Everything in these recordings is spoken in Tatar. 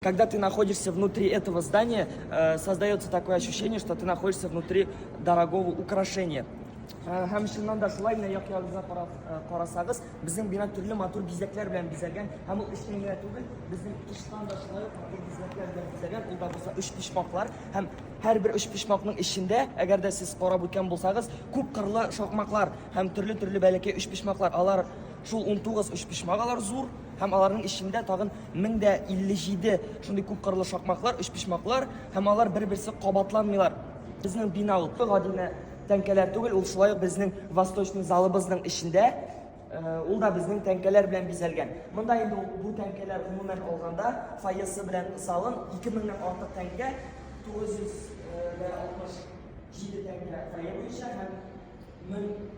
Когда ты находишься внутри этого здания, э, создается такое ощущение, что ты находишься внутри дорогого украшения. Һәм э, чыннан да шулай менә як ягыбызга карап э, карасагыз, безнең бина төрле матур бизәкләр белән бизәлгән. Һәм ул эчтән генә түгел, безнең тыштан да шулай ук матур бизәкләр белән бизәлгән. Ул да булса өч почмаклар һәм һәр бер өч почмакның эчендә, әгәр дә сез карап үткән булсагыз, күп кырлы шакмаклар һәм төрле-төрле бәләкәй өч почмаклар. Алар шул 19 өч почмак, алар зур. Һәм аларның эчендә тагын 1057 шундый күпкырлы шакмаклар, өчпочмаклар, һәм алар бер-берсе кабатланмыйлар. Безнең бина ул гади генә тәңкәләр түгел, ул шулай ук безнең восточный залыбызның эчендә э, ул да безнең тәңкәләр белән бизәлгән. Монда инде бу тәңкәләр гомумән алганда фойесы белән салым 2000 нән артык тәңкә 967 э, тәңкә фойе буенча һәм 1000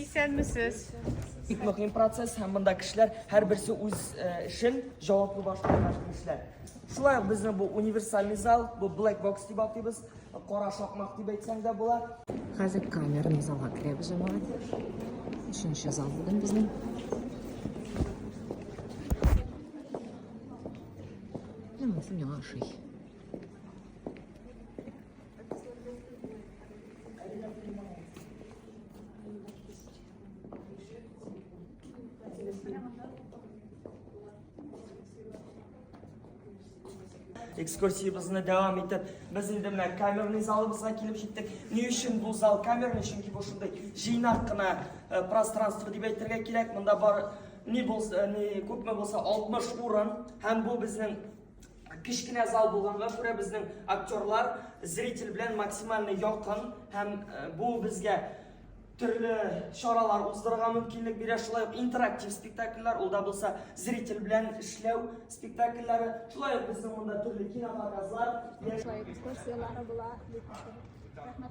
Исәнмесез. Бик мөһим процесс һәм монда кешеләр һәрберсе үз э, эшен җаваплы башкарган кешеләр. Шулай ук безнең бу универсальный зал, бу black box дип атыйбыз. Кара шакмак дип әйтсәң дә була. Хәзер камерный залга керәбез аңа. Өченче зал бүген безнең. Менә шул яңа шый. экскурсиябезне дәвам итеп без инде менә камерный залыбызга килеп җиттек ни өчен бу зал камерный чөнки бу шундый җыйнак кына э, пространство дип әйтергә кирәк монда бар ни булса э, ни күпме булса 60 урын һәм бу безнең кечкенә зал булганга күрә безнең актерлар зритель белән максимально якын һәм э, бу безгә төрле чаралар уздырырга мөмкинлек бирә шулай ук интерактив спектакльләр ул да булса зритель белән эшләү спектакльләре шулай ук безнең монда төрле кинопоказлар экскурсияләре була рәхмәт